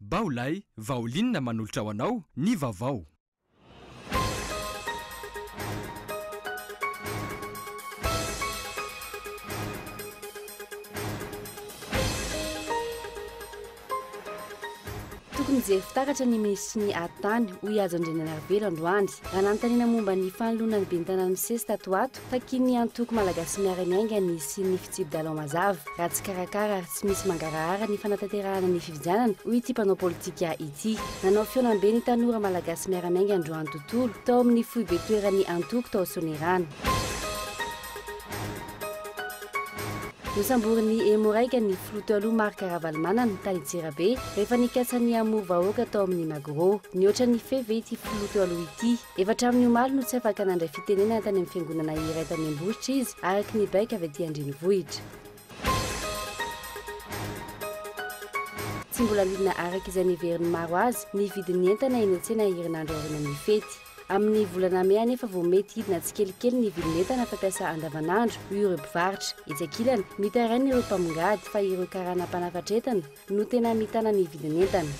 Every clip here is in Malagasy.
Bao lay vaolinina manolotra ho anao ny vaovao. Tokony hijery fitaratra ny minisitry ny Ady tany, hoy Hajo Andrianarivelo androany, raha nanontaniana momba ny fanoloana ny ben'ny tanàna misesy tato ho ato Takian'ny antoko Malagasy Miara-miainga ny hisian'ny fitsipi-dalao mazava, raha tsy karakara ary tsy misy mangarahara ny fanatanterahana ny fifidianana, hoy ity mpanao politika ity. Nanao fihaonambe ny tanora Malagasy Miara-miainga androany tontolo, tao amin'ny foibe toeran'ny antoko tao Soanierana. Nosamborin'i Emo Raika ny filoha taloha Marc Ravalomanana, tany Antsirabe, rehefa nikasa ny hamory vahoaka tao amin'ny Magro. Nihoatra ny fefy ve ity filoha teo aloha ity? Efa hatramin'ny omaly no tsy afaka nandray fitenenana tany amin'ny fiangonana iray tany Ambositra izy, araka ny baiko avy aty an-drenivohitra. Tsy mbola lidina araka izay neverin'ny maro azy ny vidin'ny entana eny an-tsena herinandro aorianan'ny fety. Amin'ny volana mey anefa vao mety hidina tsikelikely ny vidin'entana fampiasa andavanandro, hoy ireo mpivarotra. Etsy ankilany, mitaraina ireo mpamongady fa ireo karana mpanafatra entana, no tena mitana ny vidin'entana.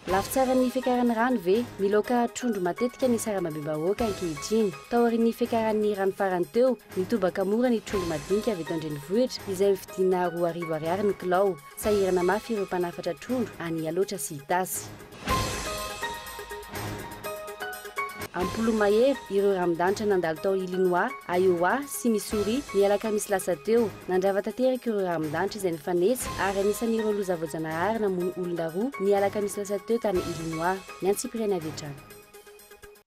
Lafo tsaran'ny fiakaran'ny rano ve? Miloaka trondro matetika ny sarambabem-bahoaka ankehitriny. Taorian'ny fiakaran'ny rano farany teo, nitobaka mora ny trondro madinika avy eto an-drenivohitra, izay vidiana roa arivo ariary ny kilao. Sahirana mafy ireo mpanafatra trondro any Ialotra sy Itasy. Ampolomahery ireo ramidanitra nandalo tao Illinois, Iowa sy Missouri ny alakamisy lasa teo. Nandrava tanteraka ireo ramidanitra izay nifanesy ary anisan'ireo loza voajanahary namono olona roa ny alakamisy lasa teo tany Illinois. Ny antsipiriany avy hatrany.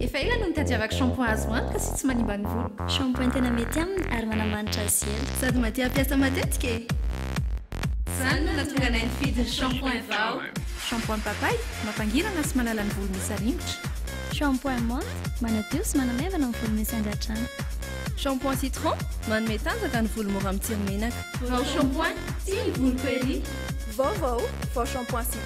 Efa ela no nitadiavako shampoing azo antoka sy tsy manimba ny voloko. Shampoing tena mety aminy ary manamanitra azy ela. Sady mahatia hampiasa matetika e! Izany no nahatonga anay nifidy ny shampoing vao. Shampoing papay, mampangirana sy manala ny volo misy aringotra. Shampoing menthe, manadio sy manamaivana ny volo misy angadrano. Shampoing citron, manome tanjaka ny volo mora mitsiry menaka. Vao shampoing, tia ny voloko ery! Vaovao, vao shampoing citron.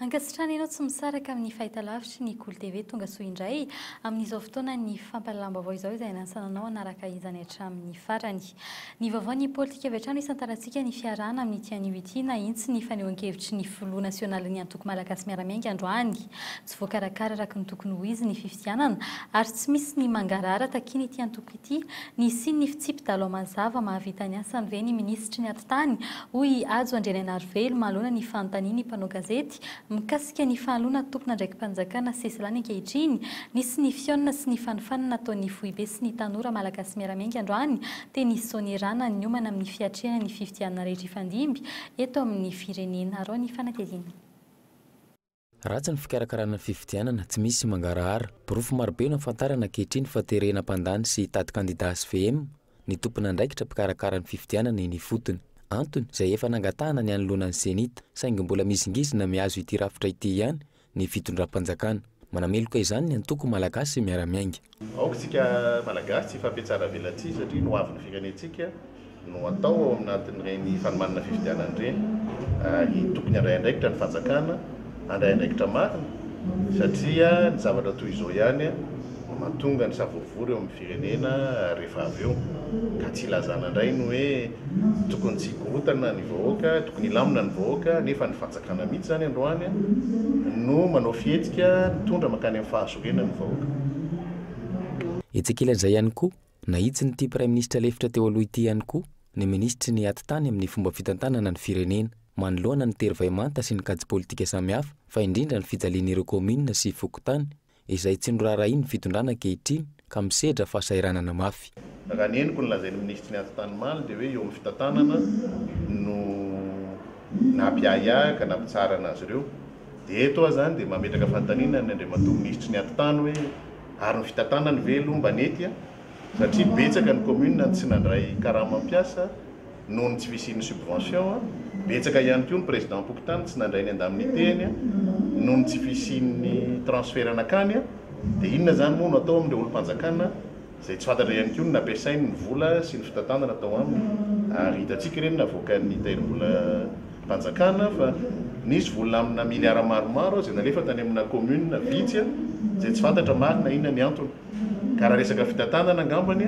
Ankasitrahana ianao tsy misaraka amin'ny fahitalavitry ny Kolo TV. Tonga soa indray amin'izao fotoanan'ny fampahalalam-baovao izao izay hanasana anao hanaraka izany hatramin'ny farany. Ny vaovaon'ny politika avy hatrany isan-tarantsika ny fiarahana amin'ity anio ity, nahitsy ny fanehoan-kevitry ny filoha nasionalin'ny Antoko Malagasy Miara-miainga androany, Tsy voakarakara araka ny tokony ho izy ny fifidianana ary tsy misy ny mangarahara takiana ity antoko ity. Ny hisian'ny fitsipi-dalao mazava mahavita ny asany ve ny minisitry ny Atitany? hoy i Hajo Andrianainarivelo manoloana ny fanontanian'ny mpanao gazety mikasika ny fahaloana tompon'andraiki-panjakana Sesilany ankehitriny. Nisy ny fihaonana sy ny fanofanana nataon'ny foibe sy ny tanora malagasy miara-miainga androany teny Soanierana niomana amin'ny fiatrehana ny fifidianana rehetra hifandimby eto amin'ny firenena. Araho ny fanadihadiana. Ratsy ny fikarakarana ny fifidianana, tsy misy mangarahara. Porofo marobe no ahafantarana ankehitriny fa terena mpandany sy hitady kandidà hvm ny tompon'andraikitra mpikarakara ny fifidianana eny ifotony. Antony, izay efa nangatahana ny hanoloana ny CENI-T, saingy mbola mizingizina mihazo ity rafitra ity ihany ny fitondram-panjakana. Manameloka izany ny antoko Malagasy miara-miainga. Aoka isika Malagasy tsy hifampihatsara velatsihy satria ny ho avin'ny firenentsika no atao ao anatin'ireny fanomanana fifidianana ireny ary tokony handray andraikitra ny fanjakana, handray andraikitra marina satria ny zavatra toy izao ihany no mahatonga ny savorovoro eo amin'ny firenena rehefa avy eo ka tsy hilazana indray ny hoe tokony tsy hikorontana ny vahoaka, tokony hilamina ny vahoaka nefa ny fanjakana mihitsy izany androany no manao fihetsika mitondra mankany amin'ny Tena ny vahoaka. Etsy ankilan'izay ihany koa, nahitsin'ity Praiminisitra lefitra teo aloha ity ihany koa ny Minisitry ny Atitany amin'ny fomba fitantanana ny firenena, manoloana ny tery vay manta sy ny kajy politika samihafa fa indrindra ny fijalian'ireo kaominina sy fokontany izay tsy noraharahian'ny fitondrana ankehitriny ka misedra fahasahiranana mafy. Raha ny henoko ny lazain'ny minisitry ny Ati-tany Maly dia hoe eo amin'ny fitantanana no nampiahiahy ka nampitsaharana azy ireo. Dia eto aho izany dia mametraka fanontaniana ny Andriamatoa minisitry ny Ati-tany hoe ary ny fitantanany ve aloha mba nety a? Satria betsaka ny commune no tsy nandray karama mpiasa noho ny tsy fisian'ny subvention a, betsaka ihany koa ny président-pokontany tsy nandray ny indemnité-ny noho ny tsy fisian'ny transfert nankany a, dia inona izany moa no atao amin'ireo olom-panjakana izay tsy fantatra ihany koa ny nampiasainy ny vola sy ny fitantanana tao aminy ary hitantsika ireny navoakan'ny tahirim-bolam-panjakana fa nisy vola amina miliara maromaro izay nalefa tany amina commune vitsy izay tsy fantatra marina inona ny antony ka raha resaka fitantanana angambany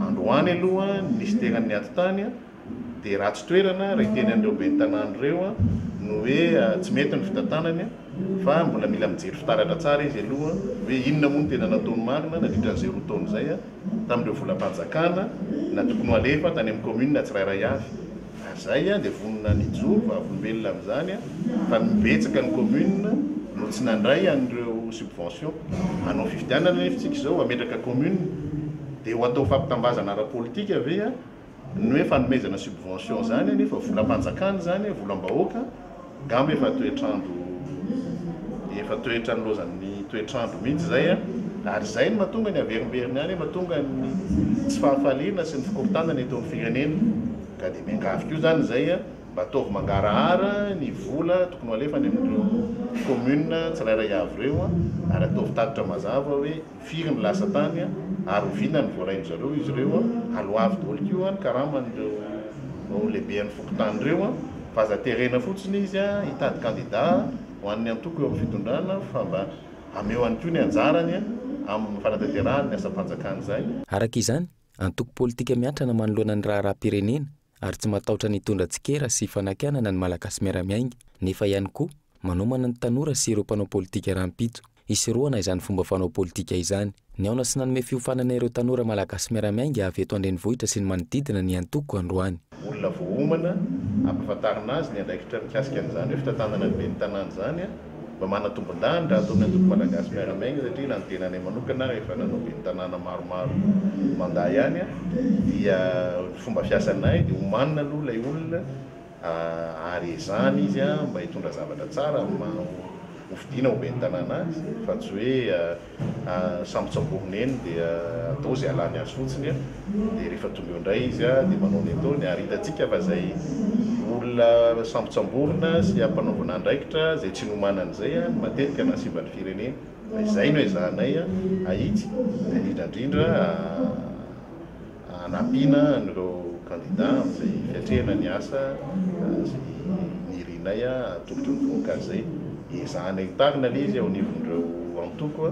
androany aloha ny minisiteran'ny atitany Dia ratsy toerana raha hiteny an'ireo ben'ny tanàna ireo ny hoe tsy mety ny fitantanany fa mbola mila mijery fitaratra tsara izy aloha hoe inona moa no tena nataony marina nandritra an'izay roa taona izay tamin'ireo volam-panjakana na tokony ho alefa tany amin'ny kaominina tsirairay avy ary izay dia vonona ny hijoro vavolombelona amin'izany fa betsaka ny kaominina no tsy nandray an'ireo subvention hanao fifidianana anefa isika izao hametraka kaominina dia ho atao fampitambazana ara-politika ve ny hoe fanomezana subvention zany anefa volam-panjakana izany, volam-bahoaka, ngamba efa toetr'andro efa toetra nilaozan'ny toetr'andro mihitsy izay a! ary izay no mahatonga ny haverimberiny any, mahatonga ny tsy fahafaliana sy ny fikorontanana eto amin'ny firenena, ka dia miangavy koa izany izay a! mba ataovy mangarahara ny vola tokony ho alefany amin'ireo communes tsirairay avy ireo a! ary ataovy tatitra mazava hoe. Firy no lasa tany a? Ary oviana no voarain-dry zareo izy ireo a? Alo avy daholo ko a ny karaman'ireo lehiben'ny fokontany ireo a! Fa aza terena fotsiny izy a hitady kandida ho an'ny antoko eo amin'ny fitondrana fa mba ameo ihany koa ny anjarany a amin'ny fanatanterahany ny asam-panjakana izay. Araka izany, antoko politika miatrana manoloana ny raharaham-pirenena ary tsy matahotra ny hitondra tsikera sy fanakianana ny Malagasy miara-miainga, nefa ihany koa manomana ny tanora sy ireo mpanao politika rahampitso hisorohana izany fomba fanao politika izany. Nihaona sy nanome fiofanana ireo tanora Malagasy miara-miainga avy eto an-drenivohitra sy ny manodidina ny antoko androany. Olona voaomana hampafantarina azy ny andraikitra mikasika an'izany hoe fitantanana ny ben'ny tanàna izany. Mba manatombin-danitra ato amin'ny antoko Malagasy Miara-miaina satria na ny tenanay manokana efa nanao ben'ny tanàna maromaro mandat ihany a, dia ny fomba fiasanay dia omanina aloha ilay olona ary ezahana izy a mba hitondra zavatra tsara amin'ny maha hofidiana ho ben'ny tanàna azy fa tsy hoe Sambotsamborina eny dia atao izay halany azy fotsiny dia rehefa tonga eo indray izy dia manao ny ataony ary hitantsika fa izay olona sambotsamborina sy ampanaovina andraikitra izay tsy nomanany izay no matetika nahasimba ny firenena fa izay no ezahanay ahitsy indrindra indrindra Hanampiana an'ireo kandidà amin'izay fiatrehana ny asa izay nirianay hatolotry ny vohokajy izay. Ezahana hitarina anie izy ao anivon'ireo antoko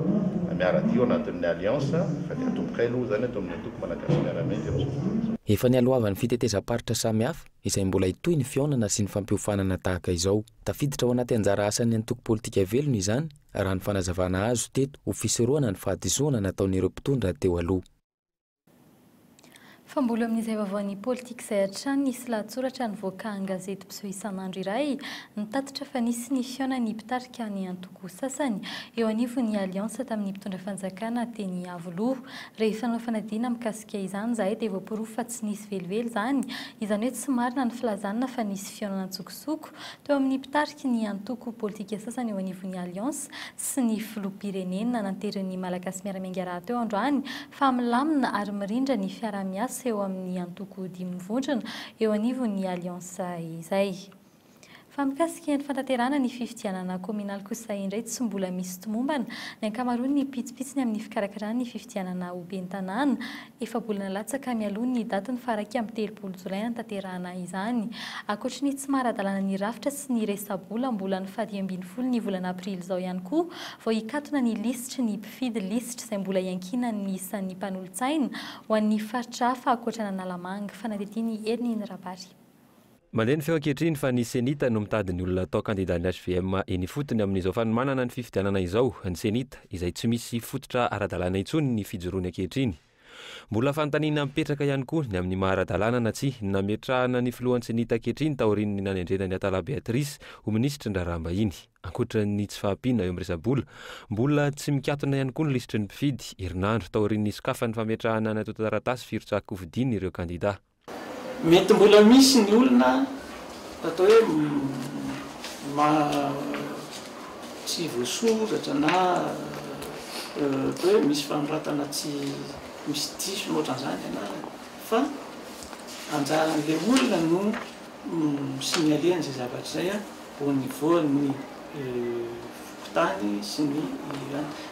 miara-dia ao anatin'ny Alliance fa dia atombokay aloha izany ato amin'ny antoko Malagasy Miara-Miaina amin'izao fotoana izao. Efa nialohavan'ny fitetezam-paritra samihafa izay mbola hitohy ny fihaonana sy ny fampiofanana tahaka izao. Tafiditra ao anaty anjara asan'ny antoko politika velona izany raha ny fanazavana azo teto ho fisorohana ny fahadisoana nataon'ireo mpitondra teo aloha. Fa mbola amin'izay vaovaon'ny politika izay hatrany nisy lahatsoratra nivoaka an-gazety mpiseho isan'andro iray nitatitra fa nisy ny fihaonan'ny mpitarika ny antoko sasany eo anivon'ny Alliance tamin'ny mpitondra fanjakana teny Iavoloha. Rehefa nanao fanadihana mikasika izany izahay dia voaporofo fa tsy nisy velively izany, izany hoe tsy marina ny filazana fa nisy fihaonana an-tsokosoko teo amin'ny mpitariky ny antoko politika sasany eo anivon'ny Alliance. sy ny Filoham-pirenena nananterin'ny Malagasy Miara-miainga rahateo androany fa milamina ary mirindra ny fiaraha-miasa eo amin'ny antoko dimy mivondrona eo anivon'ny Alliance izay. Fa mikasika ny fantanterahana ny fifidianana kaominaly kosa indray tsy mbola misy tomombana ny ankamaroan'ny pitsopitsony amin'ny fikarakarana ny fifidianana ho ben'ny tanàna Efa-bolana latsaka mialoha ny datin'ny faha iraika amby telopolo jolay hanatanterahana izany. Ankoatry ny tsy maha-ara-dalàna ny rafitra sy ny resa-bola, mbola ny faha dimy ambin'ny folo ny volana aprily izao ihany koa vao hikatona ny lisitry ny mpifidy, lisitra izay mbola iankinan'ny isan'ny mpanolotsaina ho an'ny faritra hafa ankoatran'Analamanga, fanadihadian'i Hery Neny Rabary. Mandeha ny feo ankehitriny fa ny Cenit no mitady ny olona hatao kandidan'ny hvm eny ifotony amin'izao fanomanana ny fifidianana izao. Ny Cenit, izay tsy misy fototra ara-dalàna intsony ny fijoroany ankehitriny. Mbola fanontaniana mipetraka ihany koa ny amin'ny maha ara-dalàna na tsia ny nametrahana ny filohan'ny Cenit ankehitriny taorian'ny nanendrena an'i Atala Beatrice ho minisitry ny raharaham-bahiny. Ankoatran'ny tsy fahampiana eo amin'ny resa-bola, mbola tsy mikatona ihany koa ny lisitry ny mpifidy, herinandro taorian'ny nisokafan'ny fametrahana ny antontan-taratasy firotsahan-kofidin'ireo kandida. Mety mbola misy ny olona atao hoe tsy voasoratra na atao hoe misy fanoratana tsy misy diso na ohatran'izany ny anarany fa anjaran'ilay olona no mi-signaler an'izay zavatra izay au niveau an'ny fokontany sy ny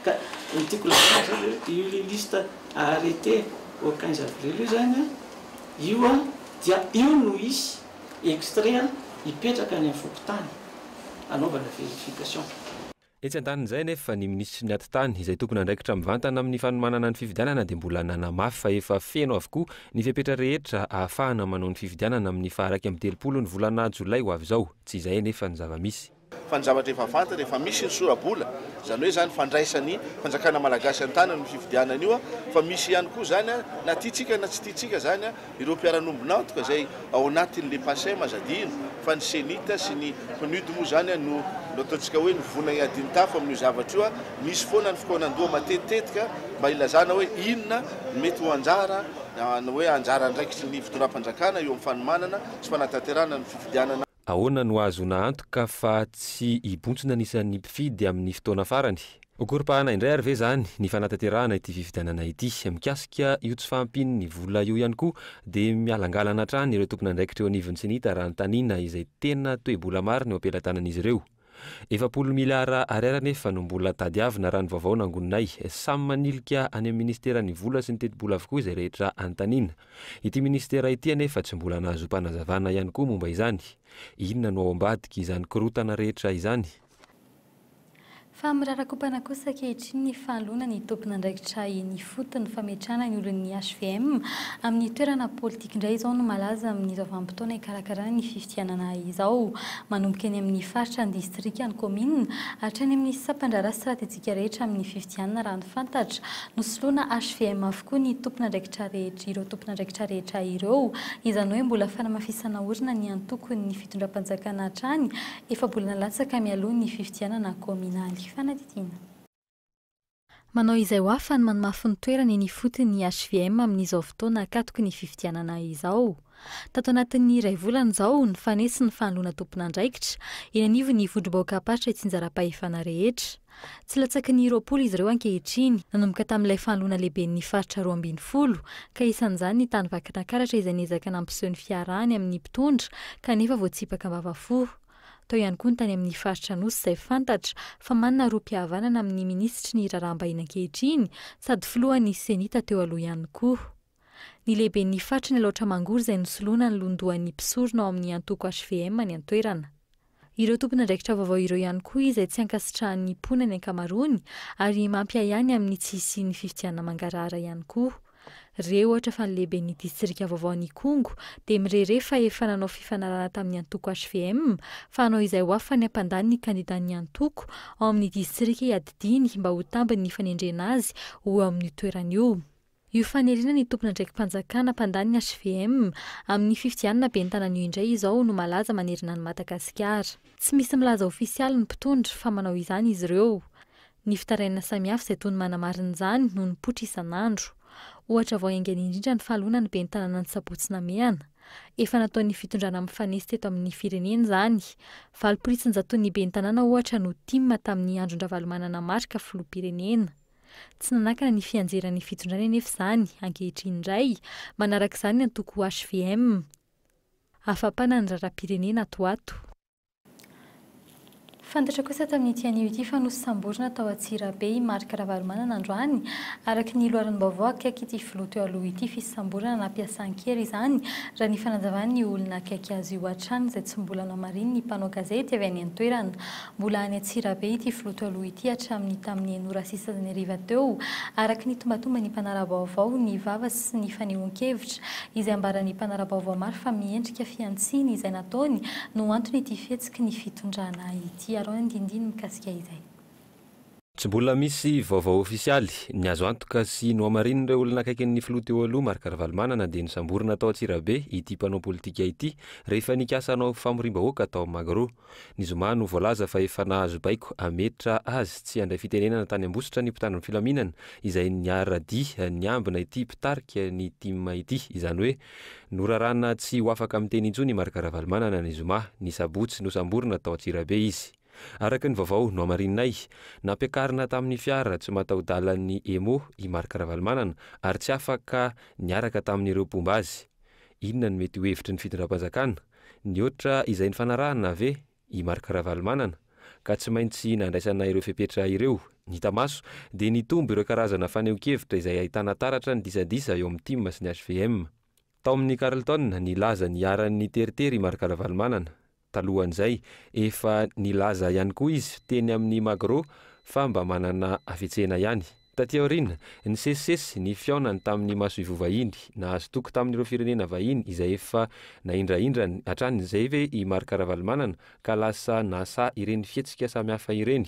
ka ny tiako lazaina izao dia io lista. Arrêté au quinze avril io izany an, io an dia io no hisy extrait an hipetraka any amin'ny fokontany hanaovana verification. Etsy an-danin'izay anefa, ny minisitry ny Atitany, izay tompon'andraikitra mivantana amin'ny fanomanana ny fifidianana dia mbola nanamafy fa efa feno avokoa ny fepetra rehetra ahafahana manao ny fifidianana amin'ny faha iraika amby telopolo ny volana jolay ho avy izao. Tsy izay anefa ny zava-misy. fa ny zavatra efa fantatra efa misy ny sorabola izany hoe zany fandraisan'ny fanjakana malagasy an-tanany ny fifidianana io fa misy ihany koa zany a na tiantsika na tsy tiantsika zany a ireo mpiara-nombon'antoka izay ao anatin'le pasem aza adino fa ny cenit sy ny pnud moa zany a no no ataontsika hoe ny vona iadin-tafo amin'io zavatra io a misy foana ny fikaonan-doha matetitetika mba ilazana hoe inona ny mety ho anjara ny hoe anjara andraikitry ny fitondram-panjakana eo amin'ny fanomanana sy fanatanterahana ny fifidianana Ahoana no ahazoana antoka fa tsy hibontsina ny isan'ny mpifidy amin'ny fotoana farany? Ho koropahana indray àry ve izany ny fanatanterahana ity fifidianana ity? Mikasika io tsy fahampian'ny vola io ihany koa, dia mihalangalana hatrany ireo tompon'andraikitra eo anivon'ny Cnit raha anontaniana izay tena toe-bola marina eo am-pelatanan'izy ireo. Efapolo miliara ariary anefa no mbola tadiavina raha ny vaovao nangoninay. Samy manilika any amin'ny Minisiteran'ny vola sy ny tetibola avokoa izay rehetra anontaniana. Ity Minisitera ity anefa tsy mbola nahazoam-panazavana ihany koa momba izany. Inona no ao ambadiky izany korontana rehetra izany? Fa mirarakompana kosa ankehitriny ny fahaloana ny tompon'andraikitra eny foot ny fametrahana ny olon'ny hvm amin'ny toerana politika indray izao no malaza amin'izao vanim-potoana hikarakarana ny fifidianana izao. Manomboka eny amin'ny faritra, ny distrika, ny kaominina, hatrany amin'ny sampandraharaha stratejika rehetra amin'ny fifidianana raha ny fantatra, nosoloana hvm avokoa ny tompon'andraikitra rehetra ireo tompon'andraikitra rehetra ireo, izany hoe mbola fanamafisana orina ny antokon'ny fitondram-panjakana hatrany efa-bolana latsaka mialoha ny fifidianana kaominaly. Fanadihadiana. Manao izay ho afany ny manmafy ny toerana eny ifotony ny hvm amin'izao fotoana akatoky ny fifidianana izao. Tato anatin'ny iray volana izao, nifanesy ny fanoloana tompon'andraikitra, eny anivon'ny vondrom-bahoakam-paritra itsinjaram-pahefana rehetra. Tsy latsaky ny roapolo izy ireo ankehitriny, nanomboka tamin'ilay fanoloana lehiben'ny faritra roa ambin'ny folo, ka isan'izany ny tany Vakinankaratra izay niezaka nampiseho ny fiarahany amin'ny mpitondra, kanefa voatsipaka am-bavafohy. Tao ihany koa ny tany amin'ny faritra Anosy izay fantatra fa manana rohim-pihavanana amin'ny minisitry ny raharaham-bahiny ankehitriny sady filohan'ny Cenita teo aloha ihany koa ny lehiben'ny faritry ny Alaotra Mangoro izay nosoloana ny lohandohan'ny mpisorona ao amin'ny antoko hvm any an-toerana. Ireo tompon'andraikitra vaovao ireo ihany koa izay tsy ankasitrahan'ny mponina ny ankamaroany ary mampiahiahy ny amin'ny tsy hisian'ny fifidianana mangarahara ihany koa. Re ohatra fa ny lehiben'ny distrika vaovaon'Ikongo dia mirere fa efa nanao fifanarahana tamin'ny antoko hvm fa hanao izay ho afany hampandany ny kandidan'ny antoko ao amin'ny distrika iadidiany mba ho tambiny ny fanendrena azy ho eo amin'io toerana io. Io faniriana ny tompon'andraiki-panjakana hampandany ny hvm amin'ny fifidianana ben'ny tanana io indray izao no malaza manerana an'i Madagasikara. Tsy misy milaza ofisialy ny mpitondra fa manao izany izy ireo. Ny fitarainana samihafa izay toa ny manamarina izany no nipoitra isan'andro. Ohatra vao haingana indrindra ny fahaloana ny ben'ny tanàna ny sabotsy Namehana. Efa nataon'ny fitondrana mifanesy teto amin'ny firenena izany. Valo poritsin-jaton'ny ben'ny tanàna ohatra no tim tamin'ny andron-dRavalomanana Marc filoham-pirenena. Tsy nanakana ny fianjeran'ny fitondrany anefa izany, ankehitriny indray, manaraka izany ny antoko hvm. Afa-panahy ny raharaham-pirenena ato ho ato. Fantatra kosa tamin'ity anio ity fa nosamborina tao Antsirabe i Marc Ravalomanana androany. Araka ny loharanom-baovao akaiky ity filoha teo aloha ity, fisamborana nampiasa an-kery izany, raha ny fanazavan'ny olona akaiky azy io hatrany izay tsy mbola namarinin'ny mpanao gazety avy any an-toerana. Mbola any Antsirabe ity filoha teo aloha ity hatramin'ny tamin'ny enora sisa ny hariva teo, araka ny tombatomban'ny mpanara-baovao, ny vava sy ny fanehoan-kevitra, izay ambaran'ny mpanara-baovao maro fa miendrika fihantsiana izay nataony no antony ity fihetsiky ny fitondrana ity. Araho ny andinindininy mikasika izay. Tsy mbola misy vaovao ofisialy. Ny azo antoka sy nohamarinin'ireo olona akaikin'ny filoha teo aloha Marc Ravalomanana dia nosamborina tao Antsirabe ity mpanao politika ity rehefa nikasa hanao famoriam-bahoaka tao Magro. Ny zoma no voalaza fa efa nahazo baiko hametra azy tsy handray fitenenana tany Ambositra ny mpitandro ny filaminana izay niara-dia niambina ity mpitarika ny tim ity. Izany hoe norarana tsy ho afaka miteny intsony i Marc Ravalomanana ny zoma. Ny sabotsy nosamborina tao Antsirabe izy. Araka ny vaovao nohamarininay, nampiakarina tamin'ny fiara tsy mataho-dalan'ny Emo i Marc Ravalomanana ary tsy afaka niaraka tamin'ireo mpomba azy. Inona no mety ho hevitry ny fitondram-panjakana? Nihoatra izay nifanarahana ve i Marc Ravalomanana ka tsy maintsy nandraisana ireo fepetra ireo? Ny hita maso dia nitombo ireo karazana fanehonkevitra izay ahitana taratra ny disadisa eo amin'ny tim sy ny hvm. Tao amin'ny Carlton nilaza ny iharan'ny teritery i Marc Ravalomanana. Talohan'izay, efa nilaza ihany koa izy teny amin'ny Magro fa mba manana hafetsena ihany. Taty aoriana, nisesisesy ny fihaonany tamin'ny masoivoho vahiny nahazo toky tamin'ireo firenena vahiny izay efa nahindrahindrany hatrany izay ve i Marc Ravalomanana ka lasa nahasaha ireny fihetsika samihafa ireny?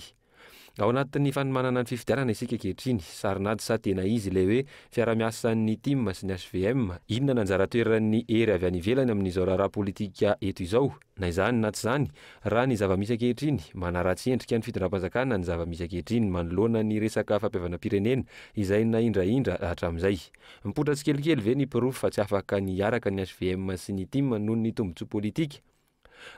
Ao anatin'ny fanomanana ny fifidianana isika ankehitriny, sarin'ady sa tena izy ilay hoe fiarahamiasan'ny tim sy ny HVM? Inona no anjara toeran'ny hery avy any ivelany amin'izao raharaha politika eto izao? Na izany na tsy izany, raha ny zava-misy ankehitriny, manaratsy endrika ny fitondram-panjakana ny zava-misy ankehitriny manoloana ny resaka fampihavanam-pirenena izay nahindrahindra hatramin'izay. Mipoitra tsikelikely ve ny porofo fa tsy afaka ny hiaraka ny hvm sy ny tim noho ny tombontsoa politika?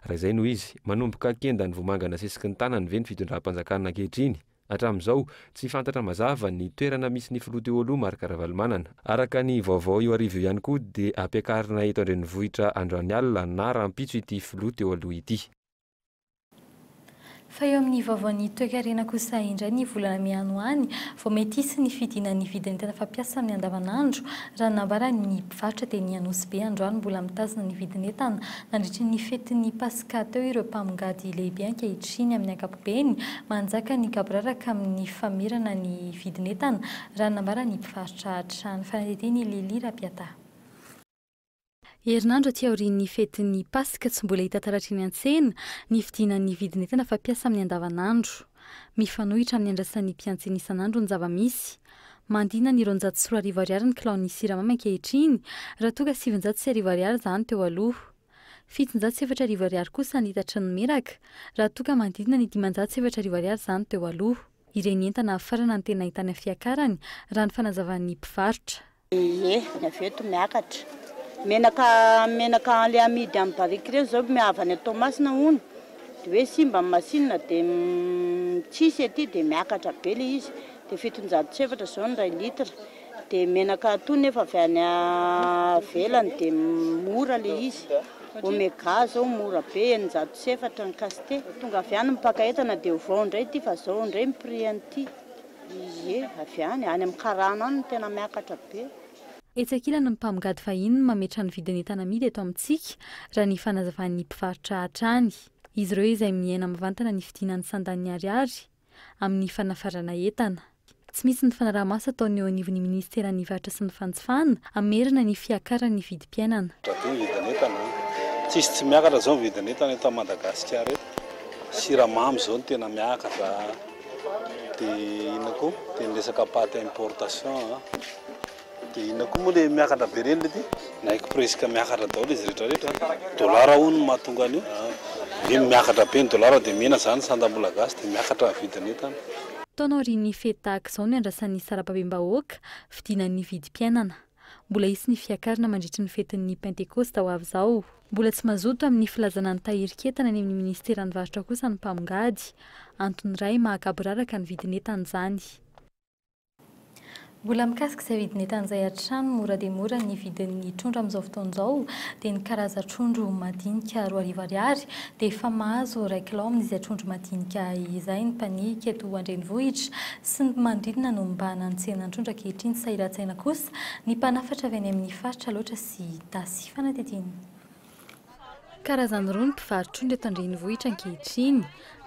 Raha izay no izy, manomboka kendan'ny vomanga nasesiky ny tanany ve ny fitondram-panjakana ankehitriny? Hatramin'izao, tsy fantatra mazava ny toerana misy ny filoha teo aloha Marc Ravalomanana. Araka ny vaovao io hariva io ihany koa dia hampiakarina eto an-drenivohitra androany alina na rahampitso ity filoha teo aloha ity. Fa eo amin'ny vaovaon'ny toekarena kosa indray ny volana mey any ho any vao mety hisy ny fidinan'ny vidin'entana fampiasa amin'ny andavanandro raha ny nambaran'ny mpivarotra teny Anosibe androany mbola mitazona ny vidin'entana nandritry ny fetin'ny Paska teo ireo mpamongady lehibe ankehitriny amin'ny ankapobeny. Beny, manjaka ny gaboraraka amin'ny famerana ny vidin'entana, raha ny nambaran'ny mpivarotra hatrany. Fanadihadian' i Lily Rapiataha. Herinandro aty aorian'ny fetin'ny Paska, tsy mbola hita taratra eny an-tsena ny fidinan'ny vidin'entana fampiasa amin'ny andavanandro. Mifanohitra amin'ny andrasan'ny mpiantsena isan'andro ny zava-misy. Mandina ny roanjato sy roa arivo ariary ny kilaon'ny siramamy ankehitriny, raha toa ka sivinjato sy arivo ariary izany teo aloha. Fitonjato sy efatra arivo ariary kosa ny hitatry ny miraka, raha toa ka manodidina ny dimanjato sy efatra arivo ariary izany teo aloha. Ireny entana hafarana no tena ahitana fiakarany, raha ny fanazavan'ny mpivarotra. Ie, ny avy eto miakatra. Menaka menaka an'ilay amidy amin'ny barika ireny izao avy any Toamasina hono, dia hoe simba ny masinina dia tsisy ety dia miakatra be ilay izy. Dia fitonjato sy efatra izao ny iray litre. Dia menaka ato nefa avy any avelany dia mora le izy. Omega zao mora be eninjato sy efatra ny caste. Tonga avy any mipaka entana dia ovao indray ity fa zao indray ny prix an'ity. Ie avy any, any amin'ny karana any no tena miakatra be. Etsy ankilany ny mpamgady fahiny no mametra ny vidin'entana amidy eto amintsika, raha ny fanazavan'ny mpivarotra hatrany. Izy ireo izay miaina mivantana ny fidiana ny sandan'ny ariary. amin'ny fanafarana entana. Tsy misy ny fanaraha-maso ataony eo anivon'ny minisiteran'ny Varotra sy ny Fanjifana hamerana ny fiakaran'ny vidim-piainana. Rabe ny vidin'entana a! Tsisy tsy miakatra zao ny vidin'entana eto Madagasikara eto. Siramamy zao no tena miakatra a! De inona koa? De ny resaka pâte importation a! Dia inona koa moa ilay miakatra be ireny ilay ty? Na expressika miakatra daholo izy rehetra rehetra, dolara hono no mahatonga an'io, hoe miakatra be ny dolara dia mihena izany sandam-bola gasy dia miakatra ny vidin'entana. Taona aorian'ny fety tahaka izao no iandrasan'ny sarababem-bahoaka fidina ny vidim-piainana. Mbola hisy ny fiakarana mandritry ny fetin'ny Pentekosta ho avy izao. Mbola tsy mazoto amin'ny filazana ny tahirin-k'entana any amin'ny Ministeran'ny Varotra kosa ny mpamongady. Antony iray mahagaboraraka ny vidin'entana izany. Mbola mikasika izay vidin'entan'izay hatrany, mora dia mora ny vidin'ny trondro amin'izao fotoana izao dia ny karazan-trondro madinika roa arivo ariary dia efa mahazo réclame izay trondro madinika izay ny mpaniika eto an-drenivohitra sy ny manodidina no mibahana ny tsenan-trondro ankehitriny sahiran-tsaina kosa ny mpanafatra avy any amin'ny faritra Alaotra sy Itasy. Fanadihadiana. Karazany roa ny mpivarotr'ondry eto an-drenivohitra ankehitriny,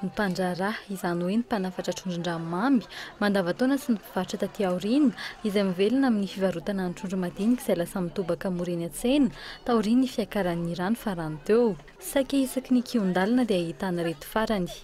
ny mpandraharaha, izany hoe ny mpanafatra trondron-drano mamy mandavantaona sy ny mpivarotra taty aoriana, izay mivelona amin'ny fivarotana ny trondro madinika izay lasa mitobaka mora eny an-tsena taorian'ny fiakaran'ny rano farany teo. Saika isaky ny kihon-dalana dia ahitana ireto farany.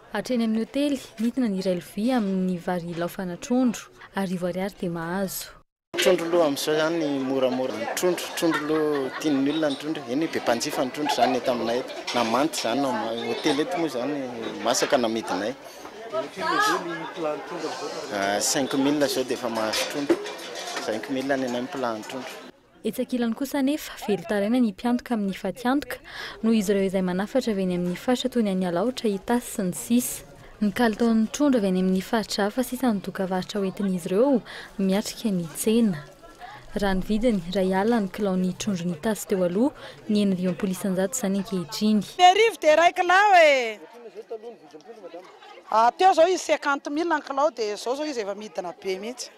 Hatreny amin'ny hotely, nidina ny iray lovia amin'ny vary ilaofana trondro. Arivo ariary dia mahazo. Trondro aloha amin'izao izany ny moramora ny trondro, trondro aloha tian'ny olona ny trondro e, eny be mpanjifa ny trondro izany eto aminay eto na manta izany na maina, hotely eto moa izany masaka no amidinay. Cinq mille izao dia efa mahazo trondro, cinq mille any anay ny plat ny trondro. Etsy ankilany kosa anefa, velon-taraina ny mpiantoka amin'ny fatiantoka, noho izy ireo izay manafatra avy eny amin'ny faritra toy ny any Alaotra, Itasy, sy ny sisa. Ny kalitaon'ny trondro avy any amin'ny faritra hafa sisa no dokavarotra hoentin'izy ireo miatrika ny tsena. Raha ny vidiny, iray alina ny kilao ny trondron'Itasy teo aloha, ny enina dimampolo isan-jato izany ankehitriny. Ny arivo dia iray kilao e! Teo izao izy cinquante mille ny kilao dia izao izao izy efa midina be mihitsy.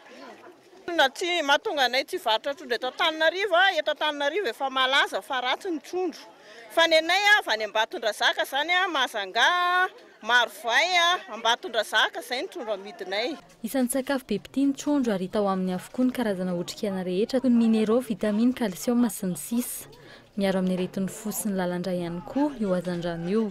Inona tsy mahatonga anay tsy hivarotra trondro eto Antananarivo a? Eto Antananarivo efa malaza fa ratsy ny trondro. Fa ny anay avy any Ambatondrazaka izany a, Mahazangà, Marovay, Ambatondrazaka, izay ny trondro amidinay. Isan'ny sakafo be mpitia ny trondro ary hita ao aminy avokoa ny karazana otrik'aina rehetra toy ny mineraux, vitamines, kalsioma sy ny sisa Miaro amin'ny aretin'ny fo sy ny lalandrà ihany koa io hazandrano io.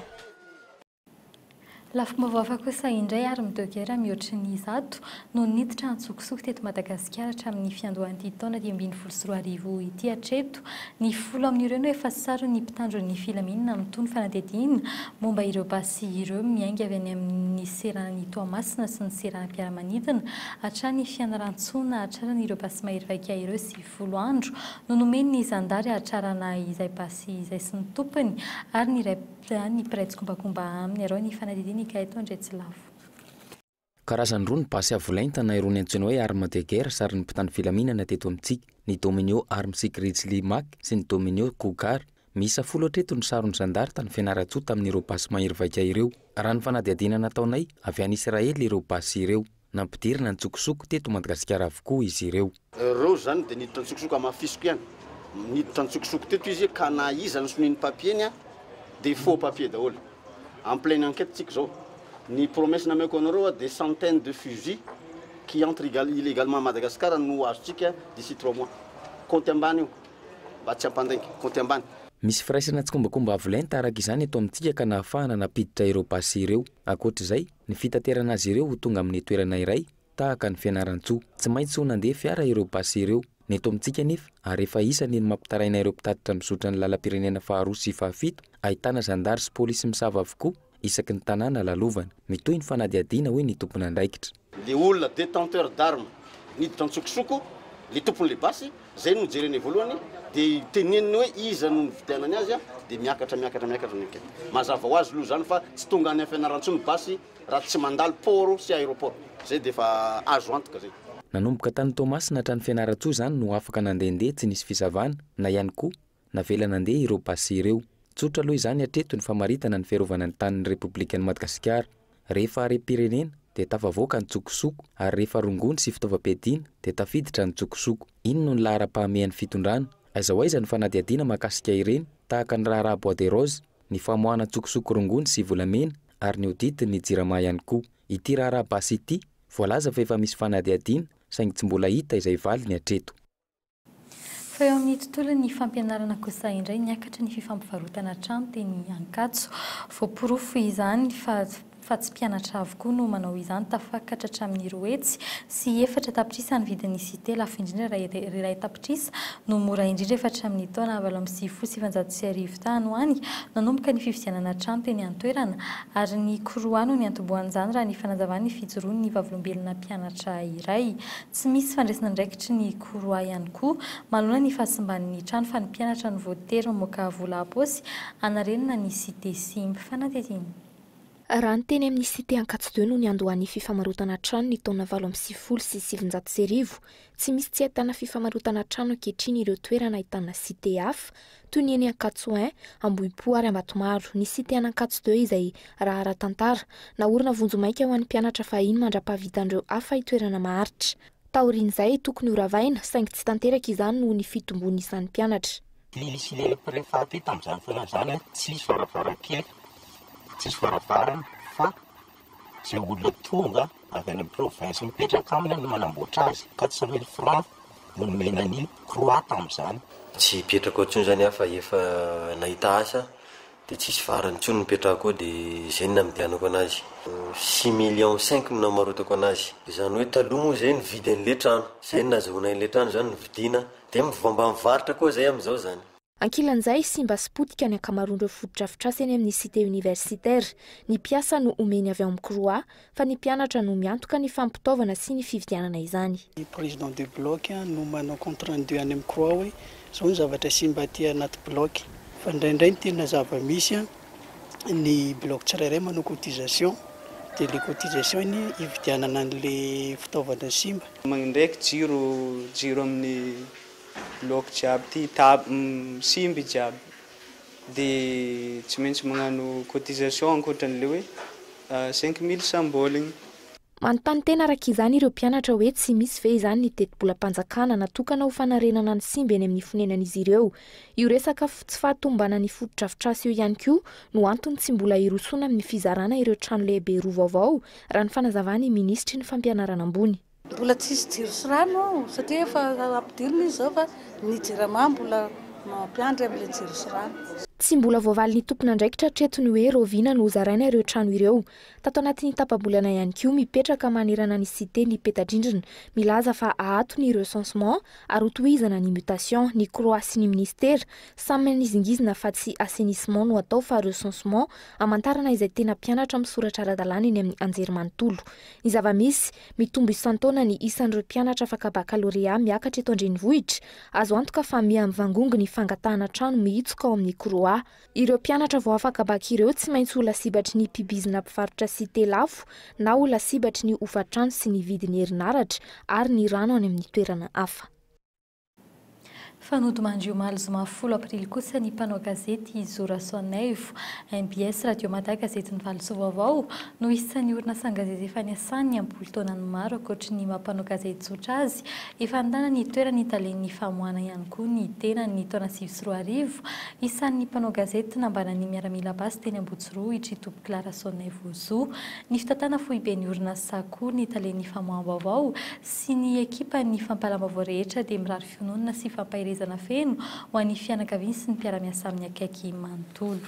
Lafim-baovao hafa kosa indray ary midogera mihoatry ny zato no niditra an-tsokosoko teto Madagasikara hatramin'ny fiandohan'ity taona dimy ambin'ny folo sy roa arivo ity hatreto. Ny folo amin'ireo no efa saron'ny mpitandro ny filaminana amin'itony fanadihadiana momba ireo basy ireo miainga avy any amin'ny seranan'i Toamasina sy ny seranam-piaramanidina hatrany Fianarantsoa nahatrarana ireo basy mahery vaika ireo sy folo andro no nomen'ny zandary hahatrarana izay basy izay sy ny tompony ary ny iray Raha ny mpiray tsikombakomba aminy arao ny fanadihadiana Ikaeto Andriatsilavo. Karazany roa ny basy avo lenta na irony antsoina hoe armes de guerre sarin'ny mpitandro filaminana teto amintsika, ny Dominio Armsy Grizzly Mac sy ny Dominio Cougar. Miisa folo hatreto ny saron'ny zandary tany Fianarantsoa tamin'ireo basy mahery vaika ireo. Raha ny fanadihadiana nataonay, avy any Isiraely ireo basy ireo. Nampidirina ny antsokosoko teto Madagasikara avokoa izy ireo. Ireo izany dia niditra antsokosoko, hamafisiko ihany, niditra antsokosoko teto izy ka na iza nisoloy ny papier-ny dia faux papier daholo. En pleine enquête tsika izao. Ny promesse nameko anareo dia centaines de fusils qui entrent illégalement à Madagascar no azontsika d'ici trois mois. Kaonty ambany io mba tsy hampandainga, kaonty ambany. Misy firaisana tsikombakomba avo lenta araka izany eto amintsika ka nahafahana nampiditra ireo basy ireo. Ankoatra izay, Ny fitaterana azy ireo ho tonga amin'ny toerana iray tahaka an'i Fianarantsoa. Tsy maintsy ho nandeha fiara ireo basy ireo. Ny eto amintsika anefa, ary efa isany ny mampitaraina ireo mpitatitra mizotra ny lalam-pirenena faharoa sy fahafito, ahitana zandary sy polisy misava avokoa isaky ny tanàna lalovana. Mitohy ny fanadihadiana, hoy ny tompon'andraikitra. Ilay olona détenteur d'armes niditra an-tsokosoko, ilay tompon'ilay basy, Zay no jerene voalohany de teneniny hoe iza no nividianany azy a de miakatra miakatra miakatra ny enquête. Mazava ho azy loha zany fa tsy tonga any Fianarantsoa ny basy raha tsy mandalo port sy aeroport. Zay de efa azo antoka zay. Nanomboka tany Toamasina hatrany Fianarantsoa zany no afaka nandehandeha tsy nisy fisavana na ihany koa Navela nandeha ireo basy ireo. Tsotra aloha izany hatreto ny famaritana ny fiarovana ny tanin'ny Repoblikan'i Madagasikara. Rehefa harem-pirenena dia tafavoaka ny tsokosoko ary rehefa rongony sy fitaovam-piadiana dia tafiditra ny tsokosoko. Iny no ny laharam-pahamehan'ny fitondrana. Aiza ho aiza ny fanadihadiana mahakasika ireny, tahaka ny raharaha bois de rose, ny famoahana tsokosoko rongony sy volamena ary ny audit ny Jirama ihany koa. Ity raharaha basy ity, voalaza fa efa misy fanadihadiana saingy tsy mbola hita izay valiny hatreto. Fa eo amin'ny tontolon'ny fampianarana kosa indray niakatra ny fifampivarotana hatrany teny Ankatso. Voaporofo izany fa fa tsy mpianatra avokoa no manao izany, tafakatra hatramin'ny roa hetsy sy efatra tapitrisa ny vidin'ny site, lafo indrindra raha iray tapitrisa no mora indrindra efa hatramin'ny taona valo amby sivifolo sy sivinjato sy arivo tany ho any nanomboka ny fividianana hatrany teny an-toerana ary ny koroa no niantombohan'izany raha ny fanazavan'ny fijoroan'ny vavolombelona mpianatra iray tsy misy fandraisan'andraikitry ny Koroa ihany koa. Manoloana ny fahasimban' ny trano fa ny mpianatra no voatery mamoaka vola ampaosy hanarenana ny Cité Simba. Fanadihadiana. Raha ny teny amin'ny Cité Ankatso-Deux no niandohan'ny fifamarotana trano ny taona valo amby sivifolo sy sivinjato sy arivo, tsy misy tsy ahitana fifamarotana trano ankehitriny ireo toerana ahitana Cité hafa, toy ny eny Ankatso I, Ambohipo ary Ambatomaro. Ny Cité an' Ankatso-Deux izay, raha ara-tantara, naorina vonjimaika ho an'ny mpianatra fahiny mandra-pahavitan'ireo hafa itoerana maharitra, Taorian'izay, tokony ho ravaina, saingy tsy tanteraka izany noho ny fitombon'ny isan'ny mpianatra. Nisy ny prefet aty tamin'izany fotoana izany hoe tsisy varavarankely, tsisy varavarana fa izay olona tonga avy any amin'ny province mipetraka aminy no manamboatra azy. Quatre cent mille francs no nomena an'i Croix tamin'izany. Tsy hipetraka ao intsony izany aho fa efa nahita asa Dia tsisy varany intsony nipetrahako ao dia izay no namidianako anazy. Six millions cinq no namarotako anazy. Izany hoe taloha moa izay nividy an'ilay trano. Izay no nazahoana ilay trano izany novidiana. Dia mivamba mivarotra koa izay amin'izao izany. Ankilan'izay, simba sy potika ny ankamaroan'ireo fotodrafitrasa eny amin'ny Cité Universitaire. Ny mpiasa no omeny avy ao amin'ny Croix, fa ny mpianatra no miantoka ny fampitaovana sy ny fividianana izany. Ny président de bloc no manao compte rendu any amin'ny croix hoe izao ny zavatra simba aty anaty bloc. Fa indraindray ny tena zava-misy, ny bloc tsirairay manao cotisation, dia ilay cotisation anie hividianana an'ilay fitaovana simba. Mandeha jiro jiro amin'ny bloc jiaby ity, table, simba jiaby. dia tsy maintsy magnano cotisation ankoatran'ilay hoe cinq mille symboles igny. Manontany tena araka izany ireo mpianatra hoe tsy misy ve izany ny tetibolam-panjakana natokana ho fanarenana ny simba eny amin'ny fonenan'izy ireo. Io resaka tsy fahatomombanan'ny fotodrafitrasa io ihany koa no antony tsy mbola hirosoana amin'ny fizarana ireo trano lehibe roa vaovao, raha ny fanazavan'ny minisitry ny Fampianarana ambony. Mbola tsisy jiro sy rano ao satria efa ampidirina izy zao fa ny jirama mbola mampiandry amin'ilay jiro sy rano. Tsy mbola voavalin'ny tompon'andraikitra hatreto ny hoe rahoviana no hozaraina ireo trano ireo. Tato anatin'ny tapa-bolana ihany koa, mipetraka manerana ny Cité ny peta-drindrina milaza fa aato ny recensement ary hotohizana ny mutation. Ny croix sy ny ministera samy nizingizina fa tsy assainissement no atao fa recensement hamantarana izay tena mpianatra misoratra ara-dalàna eny amin'ny anjerimanontolo. Ny zava-misy. Mitombo isan-taona ny isan'ireo mpianatra afaka bakalorea miakatra eto an-drenivohitra. Azo antoka fa miha mivangongo ny fangatahana trano mihitsoka ao amin'ny Croix. Ireo mpianatra vao afaka bac ireo tsy maintsy ho lasibatry ny mpibizina mpivarotra site lafo na ho lasibatry ny hofan-trano sy ny vidin'ny herinaratra ary ny rano any amin'ny toerana hafa. Fa nodimandry omaly zoma folo aprily kosa ny mpanao gazety Zo Rasoanaivo. Mbs Radio Mada gazety Ny Valosoa Vaovao no isan'ny orinasan-gazety efa niasany am-polo taonany maro ankoatry ny maha mpanao gazety tsotra azy efa nitana ny toeran'ny talen'ny famoahana ihany koa ny tenany ny taona sivy sy roa arivo isan'ny mpanao gazety nambaran'ny miaramila basy teny Ambotsirohitra i Topokolahy Rasoanaivo Zo. Ny fitantanana foiben'ny orinasa koa ny talen'ny famoaham-baovao sy ny ekipan'ny fampahalalam-baovao rehetra dia mirary fiononana sy fampaherezana feno ho an'ny fianakaviany sy ny mpiara-miasa aminy akaiky manontolo.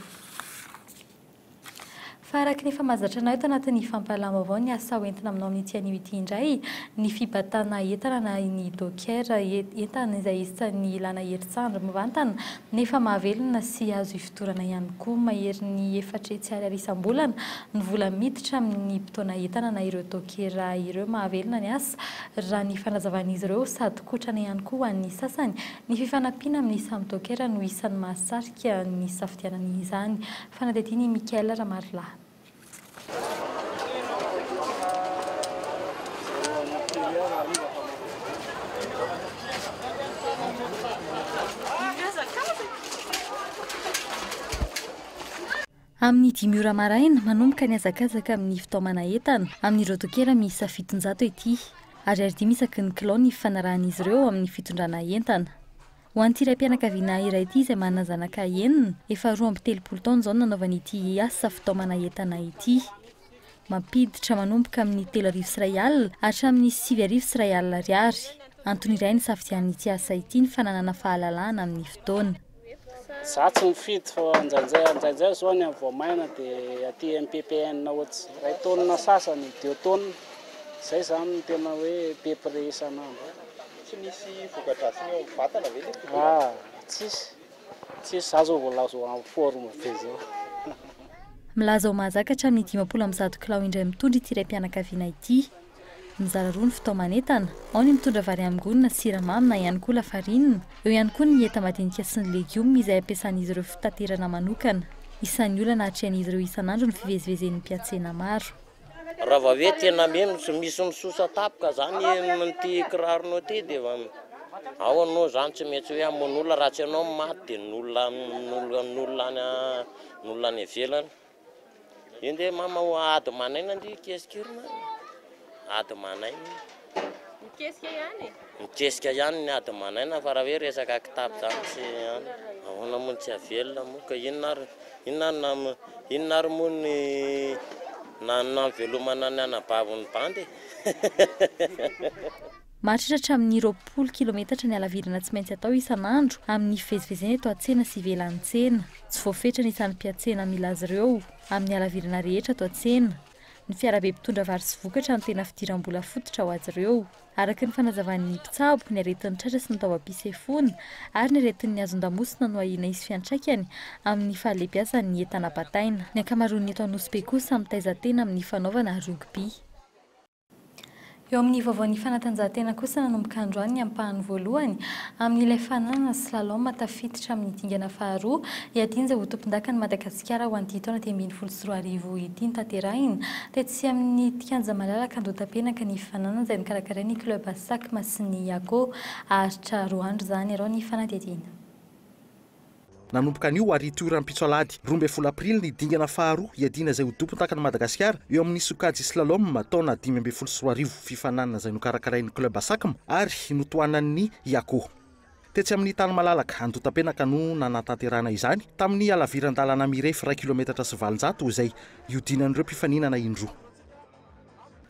Fa araka ny efa mahazatra anay eto anatin'ny fampahalalam-baovao ny asa ho entina aminao amin'ity anio ity indray, ny fibatana entana na ny docker, entana izay isan'ny ilana herintsandry mivantana nefa mahavelona sy azo Dorana ihany koa maherin'ny efatra hetsy ariary isam-bolana ny vola miditra amin'ny mpitaona entana na ireo dokera ireo mahavelona ny asa, raha ny fanazavan'izy ireo, sady kotrana ihany koa ho an'ny sasany. Ny fifanampiana amin'ny samy dokera no isan'ny mahasarika ny hisafidianana izany, fanadihadian'i Michael Ramarolahy. Amin'ny dimy ora maraina, manomboka ny hazakazaka amin'ny fitaomana entana amin'ireo dokera miisa fitonjato ety. Ariary dimy isaky ny kilao ny fifanarahan'izy ireo amin'ny fitondrana entana. Ho an'ity raim-pianakaviana iray ity izay manana zanaka enina, efa roa amby telopolo taona izao no nanaovany ity asa fitaomana entana ity. Mampiditra manomboka amin'ny telo arivo sy iray alina hatramin'ny sivy arivo sy iray alina ariary. Antony iray nisafidianana ity asa ity ny fananana fahalalahana amin'ny fotoana. Za tsy mifidy fa ndraindray ndraindray izao ny any Voamaina dia aty MPPN ohatsy iray taonina sasany, deux taonina. Izay izany no tena hoe be prix isan'andro. Tsy nisy voka-dratsiny eo amin'ny vatana ve le tobolahy? Ah, tsisy. Tsisy, za zao vao laza ho en forme be zao. Milaza ho mahazaka hatramin'ny dimampolo amby zato kilao indray mitondra ity raim-pianakaviana ity. Mizara roa ny fitaoman'entana, ao ny mitondra vary amin-gony na siramamy na ihany koa lafarinina, eo ihany koa ny enta madinika sy ny legioma izay ampiasan'izy ireo fitaterana manokana. Isan'ny olana atrehan'izy ireo isan'andro ny fivezivezen'ny mpiantsena maro. Raha vao hoe tena mino tsy misy misosa tapaka zany amin'ity kiraronao ity dia efa ao anao zany tsy maintsy hoe hamono olona raha tsy ianao no maty dia ny olona ny olona ny olona any ny olona any ivelany io nge mama ho ady manaina ndry keskirina ady manaina io Mikesika ihany e! Mikesika ihany ny ady manaina fa raha hoe resaka kitapo zany tsy an! Ahoana moa no tsy havelona moa ka inona ary inona ary nam inona ary moa ny nam namvelomana ny anabaviny bandy e! Maharitra hatramin'ny roapolo kilometatra ny halavirana tsy maintsy atao isan'andro amin'ny fivezivezena eto an-tsena sy ivelan'ny tsena. Tsy voafetra ny isan'ny mpiantsena mila azy ireo amin'ny halavirana rehetra ato an-tsena. Ny fiarabe mpitondra vary sy vokatra no tena fidiram-bola fototra ho azy ireo. Araka ny fanazavan'ny mpitsabo, ny aretin'ny tratra sy ny taovam-pisefoana ary ny aretin'ny hazon-damosina no ahiana hisy fiantraikany amin'ny fahalebiazany ny entana bataina. Ny ankamaroan'ny eto Anosibe kosa mitaiza tena amin'ny fanaovana rugby. Eo amin'ny vaovaon'ny fanatanjahantena kosa nanomboka androany ny ampahany voalohany amin'ilay fananana slalom tafiditra amin'ny dingana faharoa hiadianja ho tompondakan'i Madagasikara ho an'ity taona dimy ambin'ny folo sy roa arivo ity notanterahina tetsy amin'ny kianja malalaka Andohatapenaka ny fananana izay nokarakarain'ny club sac Masin'ny Akoho Aritra Roandro izany arao ny fanadihadiana Nanomboka anio ary toy rahampitso alahady roa ambin'ny folo aprily ny dingana faharoa hiadiana izay ho dompon-takan'i Madagasikara eo amin'ny sokajy slalom taona dimy ambin'ny folo sy roa arivo, fifaninanana izay nokarakarain'ny club Asacm ary notohanan'ny Iako. Tetsy amin'ny tany malalaka Andotapenaka no nanatanterahana izany tamin'ny halaviran-dalana mirefy iray kilometatra sy valonjato izay hiodinan'ireo mpifaninana indroa.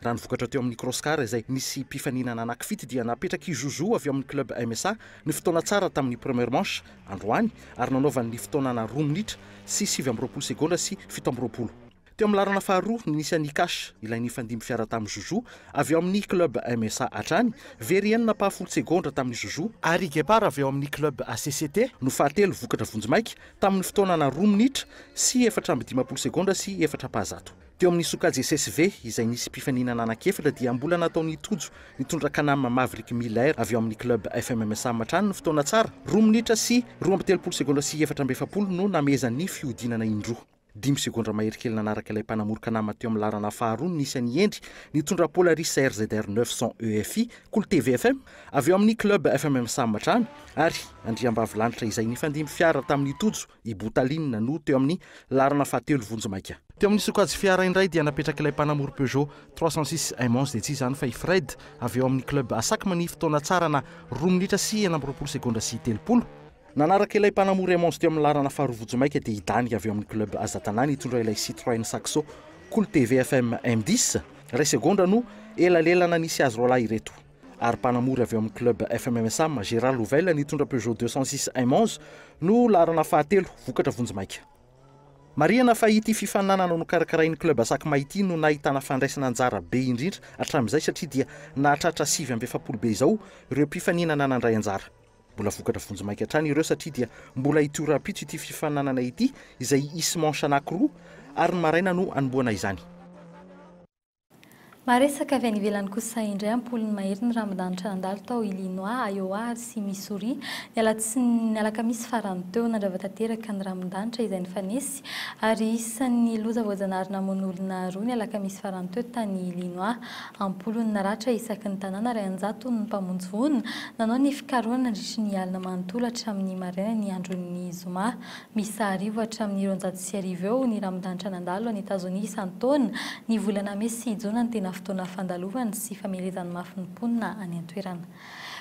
Raha ny vokatra teo amin'ny Crosscar izay nisy mpifaninana anankifito dia napetrak'i Jojo avy ao amin'ny club MSA ny fotoana tsara tamin'ny première manche androany ary nanaovany ny fotoanana roa minitra sy sivy amby roapolo segondra sy fito amby roapolo. Teo amin'ny laharana faharoa no nisy an'i Kash ilay nifandimby fiara tamin'i Jojo avy ao amin'ny club MSA hatrany, very enina apaha folo segondra tamin'i Jojo, ary i Gepar avy ao amin'ny club ACCT no fahatelo vokatra vonjimaika tamin'ny fotoanana roa minitra sy efatra amby dimampolo segondra sy efatra apaha zato. Teo amin'ny sokajy SSV izay nisy mpifaninana anankiefatra dia mbola nataon'i Tojo nitondra Canam Maverick Miller avy ao amin'ny club FMMSA hatrany ny fotoana tsara, roa minitra sy roa amby telopolo segondra sy efatra amby efapolo no namehezan'ny fihodinana indroa. Dimy segondra mahery kely nanaraka ilay mpanamory Canam teo amin'ny laharana faharoa no nisy an'i Hendry nitondra Polaris RZR 900 EFI, Cool TV FM, avy ao amin'ny club FMMSA hatrany, ary Andriambavilanitra izay nifandimby fiara tamin'i Tojo. i Boutaline no teo amin'ny laharana fahatelo vonjimaika. Teo amin'ny sokajy fiara indray dia napetrak'ilay mpanamory Peugeot trois cent six M onze dia tsy iza izany fa i Fred avy ao amin'ny club Asacma ny fotoana tsarana roa minitra sy enina amby roapolo segondra sy telopolo. Nanaraka ilay mpanamory M onze teo amin'ny laharana faharoa vonjimaika dia i Dany avy ao amin'ny club Azatana nitondra ilay Citroën Saxo Cool TV FM M dix. Iray segondra no elalelana nisy azy roalahy ireto. ary mpanamory avy ao amin'ny club FMMSAM, Gérard Louvel, nitondra Peugeot deux cent six M onze no laharana fahatelo, vokatra vonjimaika. Marihana fa ity fifaninanana nokarakarain'ny club Sakma ity no nahitana fandraisana anjara be indrindra hatramin'izay satria dia nahatratra sivy amby efapolo be izao ireo mpifaninana nandray anjara. Mbola vokatra vonjimaika hatrany ireo satria dia mbola hitohy rahampitso ity fifaninanana ity izay hisy manche anankiroa ary ny maraina no hanombohana izany. Maharesaka avy any ivelany kosa indray am-polony mahery ny rambondanitra nandalo tao Illinois, Iowa ary sy Missouri, ny alatsiny, ny alakamisy farany teo. Nandrava tanteraka ny rambondanitra izay nifanesy ary isan'ny loza voajanahary namono olona roa ny alakamisy farany teo tany Illinois. Am-polony naratra isaky ny tanàna ary an-jatony ny mpamonjy voina nanao ny fikarohana nandritry ny alina manontolo hatramin'ny marainan'ny andron'ny zoma Miisa arivo hatramin'ny roanjato sy arivo eo ny rambondanitra nandalo any Etazonia isan-taona. Ny volana mey sy jona no tena fotoana fandalovany sy famelezany mafy ny mponina any an-toerana.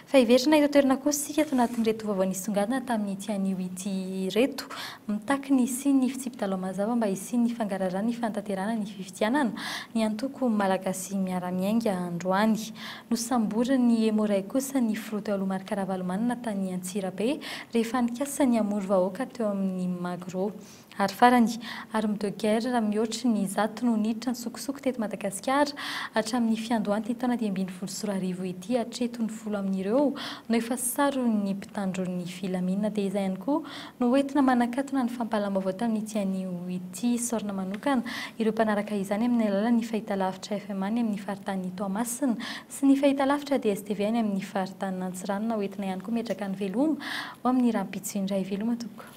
Fa hiverina eto an-toerana kosa isika ato anatin'ireto vaovao nisongadina tamin'ity anio ity ireto. Mitaky ny hisian'ny fitsipi-dalao mazava mba hisian'ny fangaraharaha ny fanatanterahana ny fifidianana ny antoko Malagasy Miara-Miainga androany. Nosamborin'ny Emo Ray kosa ny filoha teo aloha Marc Ravalomanana tany Antsirabe rehefa nikasa ny hamory vahoaka teo amin'ny Magro. Ary farany, arme de guerre mihoatry ny zato no niditra an-tsokosoko teto Madagasikara hatramin'ny fiandohan'ity taona dimy ambin'ny folo sy roa arivo ity hatreto ny folo amin'ireo no efa saron'ny mpitandron'ny filaminana dia izay ihany koa Noentina manakatona ny fampahalam-baovao tamin'ity anio ity saorina manokana ireo mpanaraka izany amin'ny alalan'ny fahitalavitra FMA ny amin'ny faritanin'i Toamasina sy ny fahitalavitra DSTV any amin'ny faritanin'Antsiranana hoentina ihany koa mihetraka ny veloma ho amin'ny rahampitso indray. Veloma tompoko.